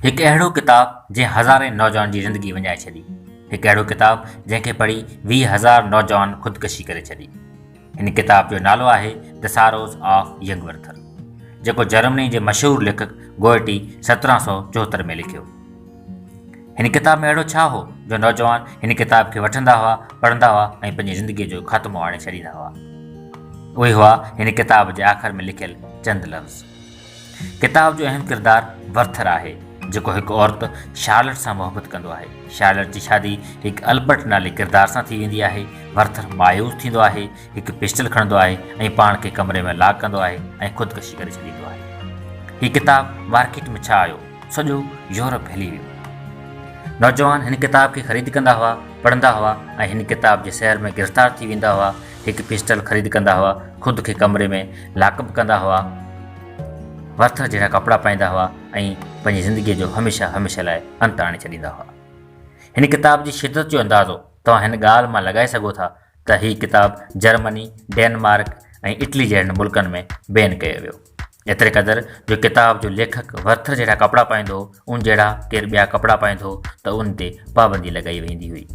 هڪ اهڙو ڪتاب جنهن هزارين نوجوانن جي زندگي وڃائي ڇڏي، هڪ اهڙو ڪتاب جنهن کي پڙهي ويهه هزار نوجوان خودڪشي ڪري ڇڏي. هن ڪتاب جو نالو آهي The Sorrows of Young Werther جيڪو جرمني جي مشهور ليکڪ گوئٽي سترهن سؤ چوهتر ۾ لکيو. هن ڪتاب ۾ اهڙو ڇا هو جو نوجوان هن ڪتاب کي وٺندا هئا، پڙهندا هئا ۽ پنهنجي زندگيء جو خاتمو آڻي ڇڏيندا هئا؟ اهي هئا هن ڪتاب جي آخر ۾ لکيل چند لفظ. ڪتاب جو اهم ڪردار ورٿر آهي، جيڪو هڪ عورت شارلٽ سان محبت ڪندو آهي. شارلٽ جي شادي هڪ البرٽ نالي ڪردار سان ٿي ويندي آهي. ورٿر مايوس ٿيندو آهي، هڪ پسٽل کڻندو آهي ۽ پاڻ کي ڪمري ۾ لاڪ ڪندو آهي ۽ خودڪشي ڪري ڇڏيندو آهي. هي ڪتاب مارڪيٽ ۾ ڇا آيو؟ سڄو يورپ هلي ويو. نوجوان هن ڪتاب کي خريد ڪندا هئا، پڙهندا هئا ۽ هن ڪتاب جي سحر ۾ گرفتار ٿي ويندا هئا. هڪ پسٽل خريد ڪندا هئا، خود کي ڪمري ۾ لاڪپ ڪندا هئا، ورٿر جهڙا ڪپڙا پائيندا هئا ۽ پنهنجي زندگيء جو هميشه هميشه لاء انت آڻي ڇڏيندا هئا. هن ڪتاب جي شدت جو اندازو توهان هن ڳالهه مان لڳائي سگهو ٿا ته هي ڪتاب جرمني، ڊينمارڪ ۽ اٽلي جهڙن ملڪن ۾ بين ڪيو ويو. ايتري قدر جو ڪتاب جو ليکڪ ورٿر جهڙا ڪپڙا پائيندو هو، ان جهڙا ڪير ٻيا ڪپڙا پائيندو ته ان تي پابندي لڳائي ويندي هئي.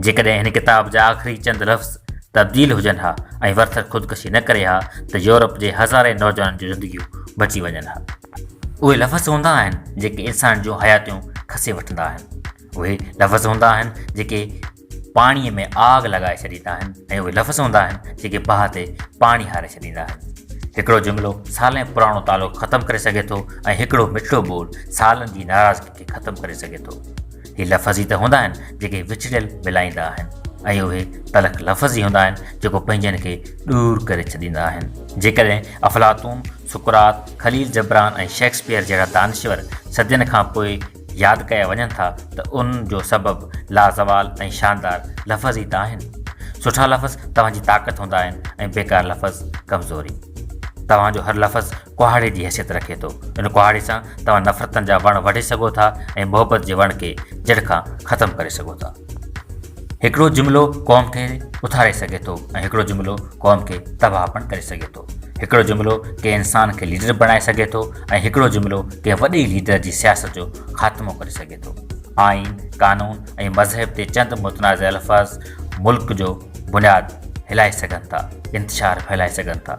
جيڪڏهن هن ڪتاب جا آخري چند لفظ تبديل هجن ها ۽ ورٿر خودڪشي نه ڪري ها ته يورپ جي هزارين نوجوانن جون زندگيون بچي وڃن ها. اهي لفظ هوندا آهن جيڪي انسان جون حياتيون کسي وٺندا آهن. اهي لفظ هوندا آهن جيڪي پاڻيء ۾ آگ لڳائي ڇڏيندا آهن ۽ اهي لفظ هوندا آهن جيڪي باهه تي پاڻي هاري ڇڏيندا آهن. هڪڙو جملو سالين پراڻو تعلق ختم ڪري سگهي ٿو ۽ هڪڙو مٺڙو ٻول سالن جي ناراضگي کي ختم ڪري سگهي ٿو. هي لفظ ئي ته هوندا آهن جيڪي وڇڙيل ملائيندا آهن ۽ اهي تلخ لفظ ئي هوندا آهن جيڪو پنهنجن کي ڏور ڪري ڇڏيندا آهن. جيڪڏهن افلاطون، سقراط، خليل جبران ۽ شيڪسپيئر جهڙا دانشور صدين کان پوء ياد ڪيا وڃن ٿا ته ان جو سبب لازوال ۽ شاندار لفظ ئي ته آهن. سٺا لفظ توهان جي طاقت هوندا آهن ۽ بيڪار لفظ ڪمزوري. توهان جو هر لفظ ڪهاڙي جي حيثيت رکي ٿو. ان ڪهاڙي سان توهان نفرتن جا وڻ وڍي سگهو ٿا ۽ محبت جي وڻ کي جڙ کان ختم ڪري سگهو ٿا. هڪڙو جملو قوم کي اٿاري سگهي ٿو ۽ هڪڙو جملو قوم کي تباهه پڻ ڪري سگهي ٿو. هڪڙو جملو ڪنهن انسان کي ليڊر بڻائي سگهي ٿو ۽ هڪڙو جملو ڪنهن وڏي ليڊر جي سياست جو خاتمو ڪري سگهي ٿو. آئين، قانون ۽ مذهب تي چند متنازع الفاظ ملڪ جو بنياد هلائي سگهن ٿا، انتشار ڦهلائي سگهن ٿا.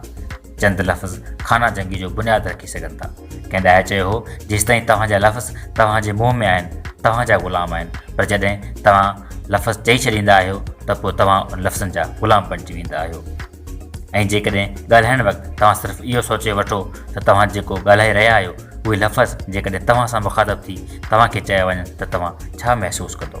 چند لفظ خانه جنگي جو بنياد رکي سگهن ٿا. ڪنهن ڏاهي چيو هو، جيستائين توهان جا لفظ توهان جي منهن ۾ آهن، توهان جا غلام آهن، پر جڏهن توهان لفظ چئي ڇڏيندا آهيو ته پوء توهان ان لفظن جا غلام بڻجي ويندا آهيو. ۽ جيڪڏهن ڳالهائڻ وقت توهان صرف اهو سوچي وٺو ته توهان جيڪو ڳالهائي رهيا آهيو، اهي لفظ جيڪڏهن توهان سان مخاطب ٿي توهان کي چيا وڃن ته توهان ڇا محسوس ڪندو؟